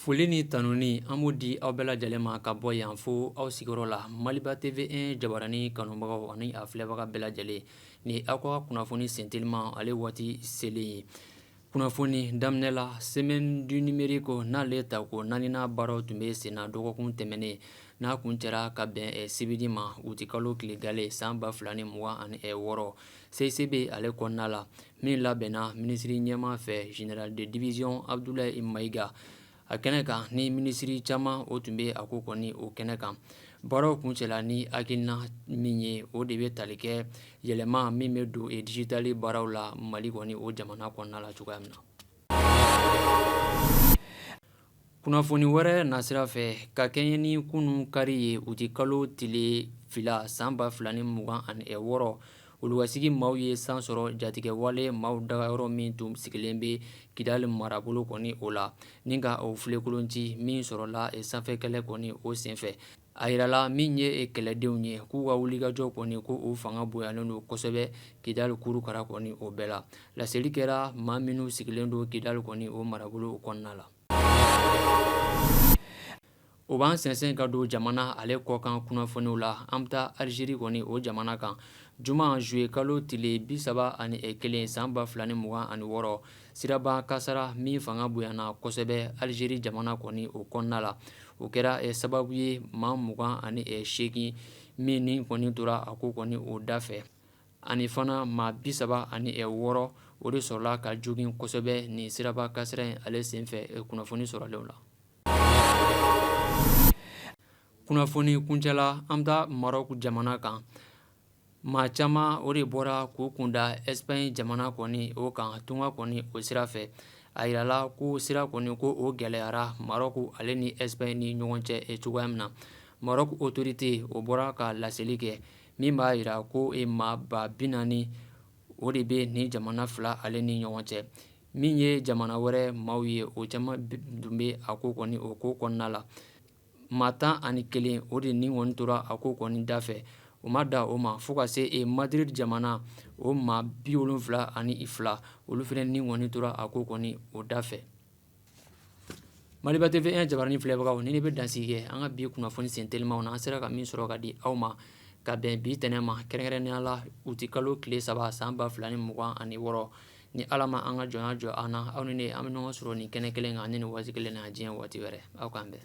Foli ni tanuni an b'o di aw bɛɛ lajɛlen ma ka bɔ yan fo aw sigiyɔrɔ la Maliba TV 1 jabaranin kanubagaw ani a filɛbaga bɛɛ lajɛlen ni ye aw ka kunnafoni senteliman ale waati selen ye kunnafoni daminɛ la semaine du numérique n'ale ta ko naaninan baaraw tun bɛ sen na dɔgɔkun tɛmɛnen n'a kuncɛra ka bɛn sibiri ma uti kalo tile gale san ba fila ni mugan ani wɔɔrɔ CICB ale kɔnɔna la min labɛnna minisiri ɲɛmaa fɛ général de division Abudulayi Mayiga a kɛnɛ kan ni minisiri caman o tun bɛ a ko kɔni o kɛnɛ kan baaraw kuncɛla ni hakilina min ye o de bɛ tali kɛ yɛlɛma min bɛ don e dijitali baaraw la mali kɔni o jamana kɔnɔna la cogoya min na kunnafoni wɛrɛ nasira fɛ ka kɛɲɛ ni kunun kari ye uti kalo tile fila san ba fila ni mugan ani wɔɔrɔ Oluwasigi maaw ye san sɔrɔ jatigɛwale maaw dagayɔrɔ min tun sigilen bɛ kidali marabolo kɔni o la ni ka o filenkolonci min sɔrɔla sanfɛ kɛlɛ kɔni o senfɛ a jirala min ye kɛlɛdenw ye k'u ka wulikajɔ kɔni ko o fanga bonyalen don kosɛbɛ kidali kurukara kɔni o bɛɛ la laseli kɛra maa minnu sigilen don kidali kɔni o marabolo kɔnɔna la O b'an sɛnsɛn ka don jamana ale kɔkan kunnafoniw la an bɛ taa alizeri kɔni o jamana kan juma zuye kalo tile bi saba ani kelen san ba fila ni mugan ani wɔɔrɔ siraba kasara min fanga bonyana kosɛbɛ alizeri jamana kɔni o kɔnɔna la o kɛra sababu ye maa mugan ani seegin min ni kɔni tora a ko kɔni o da fɛ ani fana maa bi saba ani wɔɔrɔ o de sɔrɔla ka jogin kosɛbɛ ni siraba kasara in ale senfɛ kunnafoni sɔrɔlenw la kunnafoni kuncɛla an bɛ taa marɔku jamana kan maa caman o de bɔra k'u kunda ɛsipaɲi jamana kɔni o kan tunga kɔni o sira fɛ a yirala ko sira kɔni ko o gɛlɛyara marɔku ale ni ɛsipaɲi ni ɲɔgɔn cɛ e cogoya min na marɔku otorite o bɔra ka laseli kɛ min b'a jira ko e maa ba bi naani o de bɛ ni jamana fila ale ni ɲɔgɔn cɛ min ye jamana wɛrɛ maaw ye o caman tun bɛ a ko kɔni o ko kɔnɔna la maa tan ani kelen o de ni kɔni tora a ko kɔni da fɛ o ma da o ma fo ka se e Madrid jamana o maa bi wolonwula ani fila olu fana ni kɔni tora a ko kɔni o da fɛ Maliba TV 1 jabaranin filɛbagaw ni ne bɛ dansigi kɛ an ka bi kunnafoni sentelimanw na an sera ka min sɔrɔ ka di aw ma ka bɛn bi tɛnɛ ma kɛrɛnkɛrɛnnenya la uti kalo tile saba san ba fila ni mugan ani wɔɔrɔ ni ala ma an ka jɔnya jɔ an na aw ni ne an bɛ ɲɔgɔn sɔrɔ nin kɛnɛ kelen kan ni nin waati kelen na diɲɛ waati wɛrɛ aw k'an bɛn